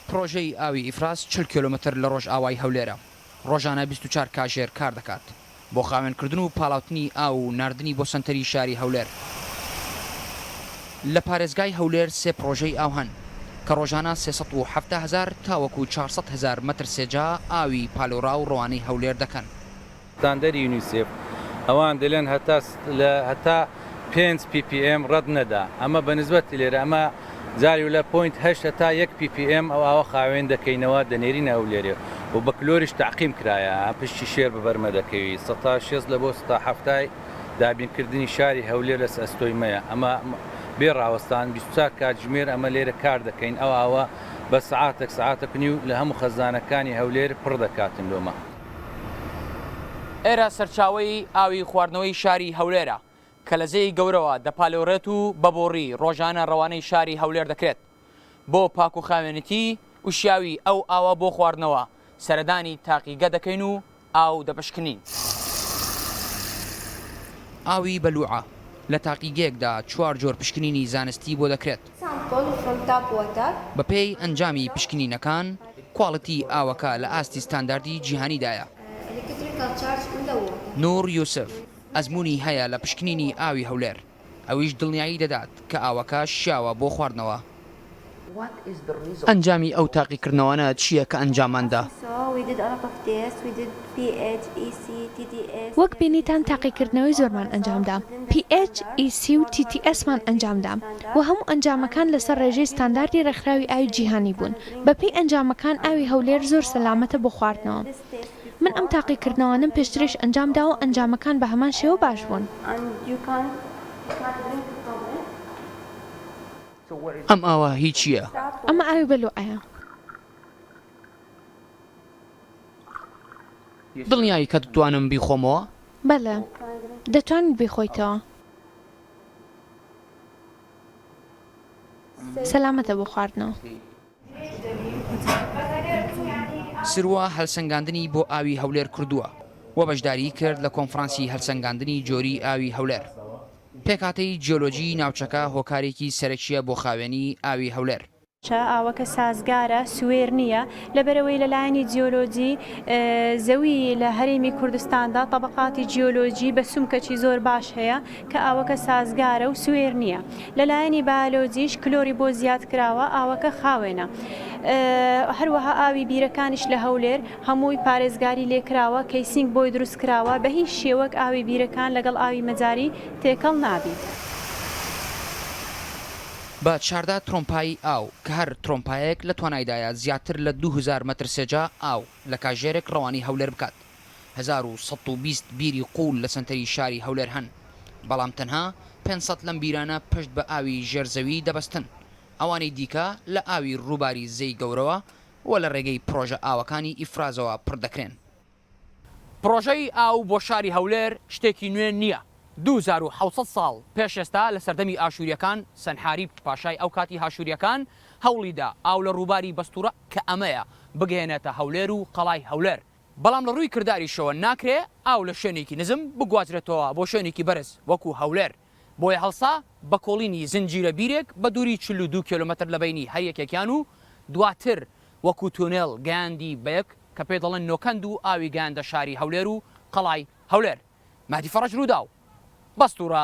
پڕۆژەی ئاوی ئیفراز چل کیلۆمەتر لە ڕۆژئاوای هەولێرە، ڕۆژانە بیست و چوار کاژێر کار دەکات بۆ خاوێنکردن و پاڵاوتنی ئاو و ناردنی بۆ سەنتەری شاری هەولێر. لە پارێزگای هەولێر سێ پڕۆژەی ئاو هەن کە ڕۆژانە سێ سەد و حەفتا هەزار تاوەکو چوار سەد هەزار مەتر سێجا ئاوی پالۆراو ڕەوانەی هەولێر دەکەن. ستاندەری یونیسێف ئەوان دەلێن هەتا لە هەتا پێنج پی پی ئێم رەت نەدا ئەمە بە نسبەتی لێرە ئەمە جاری و لە پۆینت هەشت هەتا یەک پی پی ئێم ئەو ئاوە خاوێن دەکەینەوە دەنێرینە هەولێرێ و بە کلۆریش تەعقیم کرایە پشتی شێر ببەرمە دەکەوی سەتا شێست لە بۆ سەتا حەفتای دابین کردنی شاری هەولێر لە ئەستۆی مەیە ئەمە بێ راوەستان بیست و چوار کاتژمێر ئەمە لێرە کار دەکەین ئەو ئاوە بە سەعاتەک سەعاتەک نیو لە هەموو خەزانەکانی هەولێر پڕ دەکاتن لۆمە ئێرە سەرچاوەی ئاوی خواردنەوەی شاری هەولێرە کە لە زێی گەورەوە دەپالێوڕێت و بە بۆڕی ڕۆژانە ڕەوانەی شاری هەولێر دەکرێت بۆ پاکوخاوێنیی و شیاوی ئەو ئاوە بۆ خواردنەوە سەردانی تاقیگە دەکەین و ئاو دەپشکنین. ئاوی بەلووعە، لە تاقیگەیەکدا چوار جۆر پشکنینی زانستی بۆ دەکرێت. سامپڵ فڕۆم تاپ وۆتەر. بەپێی ئەنجامی پشکنینەکان، کواڵیتی ئاوەکە لە ئاستی ستانداردی جیهانیدایە. ئەلیکتریکەڵ چارج ئین دە وۆتەر. نوور یوسف، ئەزموونی هەیە لە پشکنینی ئاوی هەولێر، ئەویش دڵنیایی دەدات کە ئاوەکە شیاوە بۆ خواردنەوە. ئەنجامی ئەو تاقیکردنەوانە چییە کە ئەنجامماندا؟ PHEC، TTS، وەک بینیتان تاقیکردنەوەی زۆرمان ئەنجامدا، PHEC و TTS مان ئەنجامدا و هەموو ئەنجامەکان لەسەر ڕێژەی ستانداردی ڕێکخراوی ئاوی جیهانی بوون، بەپێی ئەنجامەکان ئاوی هەولێر زۆر سەلامەتە بۆ خواردنەوە. من ئەم تاقیکردنەوانەم پێشتریش ئەنجامداوە و ئەنجامەکان بە هەمان شێوە باش بوون. ئەم ئاوە هی چییە؟ ئەمە ئاوی بەلوعەیە. دڵنیایی کە دتوانم بیخۆمەوە؟ بەلە دەتوانیت بیخۆیتەوە. سەلامەتە بۆ خواردنەوە. سروە هەلسەنگاندنی بۆ ئاوی هەولێر کردووە و بەشداریی کرد لە کۆنفرانسی هەلسەنگاندنی جۆری ئاوی هەولێر. پێکهاتەی جیۆلۆجیی ناوچەکە هۆکارێکی سەرەکییە بۆ خاوێنی ئاوی هەولێر. چا ئاوەکە سازگارە، سوێر نییە، لەبەرئەوەی لە لایەنی جیۆلۆجی زەوی لە هەرێمی کوردستاندا تەبەقاتی جیۆلۆجی بە سومکەکی زۆر باش هەیە کە ئاوەکە سازگارە و سوێر نییە. لە لایەنی بایۆلۆجیش کلۆری بۆ زیاد کراوە، ئاوەکە خاوێنە. هەروەها ئاوی بیرەکانیش لە هەولێر هەمووی پارێزگاری لێ کراوە، کەیسینگ بۆی دروست کراوە، بە هیچ شێوەک ئاوی بیرەکان لەگەڵ ئاوی مەجاری تێکەڵ نابی. بە چاردا ترۆمپایی ئاو کە هەر ترۆمپایەک لە توانایدایە زیاتر لە دوو هەزار مەتر سێجا ئاو لە کاژێرێک ڕەوانەی هەولێر بکات. هەزار و سەد و بیست بیری قوول لە سەنتەری شاری هەولێر هەن، بەڵام تەنها پێنج سەد لەم بیرانە پشت بە ئاوی ژێر زەوی دەبەستن، ئەوانەی دیکە لە ئاوی ڕووباری زێی گەورەوە و لە ڕێگەی پڕۆژە ئاوەکانی ئیفرازەوە پڕ دەکرێن. پڕۆژەی ئاو بۆ شاری هەولێر شتێکی نوێ نییە، دوو هەزار و حەوت سەد ساڵ پێش ئێستا لە سەردەمی ئاشوورییەکان سەنحاریب پاشای ئەو کاتی هاشوورییەکان هەوڵی دا ئاو لە ڕووباری بەستوورە کە ئەمەیە بگەیەنێتە هەولێر و قەڵای هەولێر، بەڵام لە ڕووی کرداریشەوە ناکرێ ئاو لە شوێنێکی نزم بگوازرێتەوە بۆ شوێنێکی بەرز وەکوو هەولێر. بۆیە هەڵسا بە کۆڵینی زنجیرە بیرێک بە دووری چل و دوو کێلۆمەتر لە بەینی هەر یەکێکیان و دواتر وەکوو تونێل گەیاندی بە یەک کە پێ دەڵێن نۆکەند و ئاوی گەیاندە شاری هەولێر و قەڵای هەولێر مەهدی فەڕەج رووداو، بەستوورە.